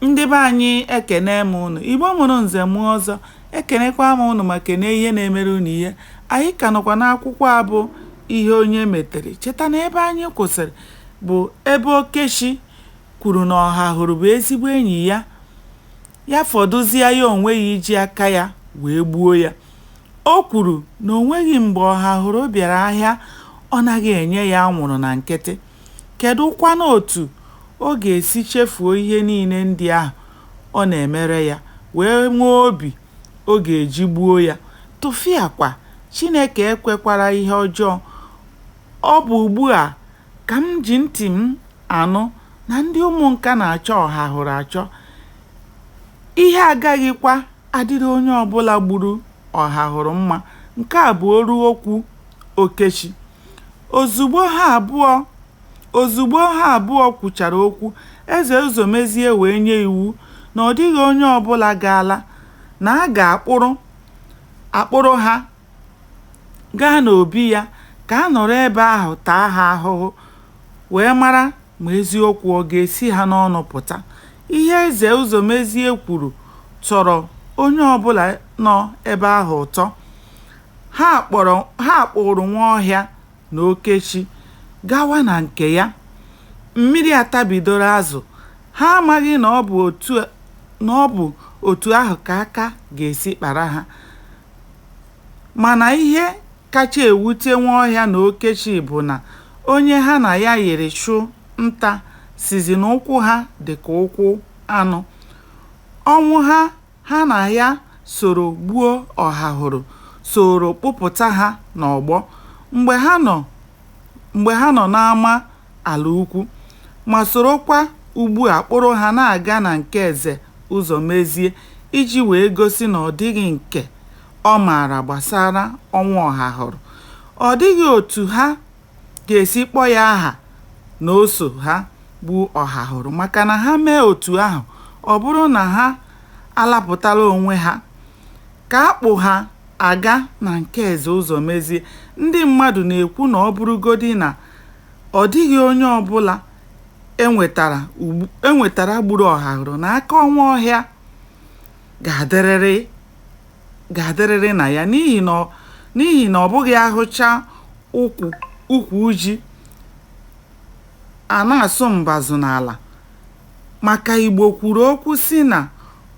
Ndị be anyị ekene m ụnụ, Igbo mụrụ nze mụọ ọzọ, ekenekwa m ụnụ ma kene ihe na-emere ụnụ ihe. Anyị ka nọkwa n'akwụkwọ a bụ ihe onye metere. Cheta na ebe anyị kwụsịrị bụ ebe Okechi kwuru na Ọhahụrụ bụ ezigbo enyi ya, ya fọdụzie ya onwe ya iji aka ya wee gbuo ya. O kwuru na o nweghị mgbe Ọhahụrụ bịara ahịa ọ naghị enye ya anwụrụ na nkịtị. kedụkwanụ otu ọ ga-esi chefuo ihe niile ndị ahụ ọ na-emere ya wee nwee obi ọ ga-eji gbuo ya? Tụfịakwa! Chineke ekwekwara ihe ọjọọ. Ọ bụ ugbu a ka m ji ntị m anụ na ndị Ụmụnka na-achọ Ọhahụrụ achọ. Ihe agaghịkwa adịrị onye ọbụla gburu Ọhahụrụ mma. Nke a bụ olu okwu Okechi. Ozugbo ha abụọ ozugbo ha abụọ kwuchara okwu, Eze Ụzọmezie wee nye iwu na ọ dịghị onye ọbụla ga-ala, na a ga-akpụrụ akpụrụ ha gaa n'obi ya ka a nọrọ ebe ahụ taa ha ahụhụ wee mara ma eziokwu ọ ga-esi ha n'ọnụ pụta. Ihe Eze Ụzọmezie kwuru tọrọ onye ọbụla nọ ebe ahụ ụtọ. Ha kpọrọ ha kpụụrụ Nwaọhịa na Okechi gawa na nke ya. Mmiri atabidoro azụ. Ha amaghị na ọ bụ otu na ọ bụ otu ahụ ka aka ga-esi kpara ha. Mana ihe kacha ewute Nwaọhịa na Okechi bụ na onye ha na ya yiri chụ nta sịzi na ụkwụ ha dị ka ụkwụ anụ. Ọnwụha ha na ya soro gbuo Ọhahụrụ soro kpụpụta ha n'ọgbọ mgbe ha nọ mgbe ha nọ n'ama ala ukwu ma sorokwa ugbua kpụrụ ha na-aga na nke Eze Ụzọmezie iji wee gosi na ọ dịghị nke ọ maara gbasara ọnwụ Ọhahụrụ. Ọ dịghị otu ha ga-esi kpọọ ya aha na o so ha gbuo Ọhahụrụ maka na ha mee otu ahụ ọ bụrụ na ha alapụtala onwe ha ka a kpụ ha aga na nke Eze Ụzọmezie ndị mmadụ na-ekwu na ọ bụrụgodi na ọ dịghị onye ọbụla e nwetara e nwetara gburu Ọhahụrụ na aka Nwaọhịa ga-adịrịrị ga-adịrịrị na ya n'ihi na ọ- n'ihi na ọ bụghị a hụcha ụkwụ ukwu ji a na-asụ mbazụ n'ala maka Igbo kwuru okwu sị na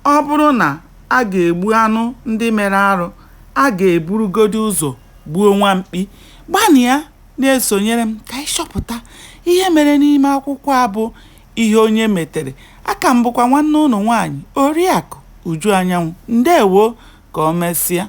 ọ bụrụ na a ga-egbu anụ ndị mere arụ a ga-eburugodi ụzọ gbuo nwa mkpi gbanịa na-esonyere m ka anyị chọpụta ihe mere n'ime akwụkwọ a bụ ihe onye metere aka m bụkwa nwanne unu nwaanyị Oriakụ Uju Anyanwụ ndewo ka o mesịa.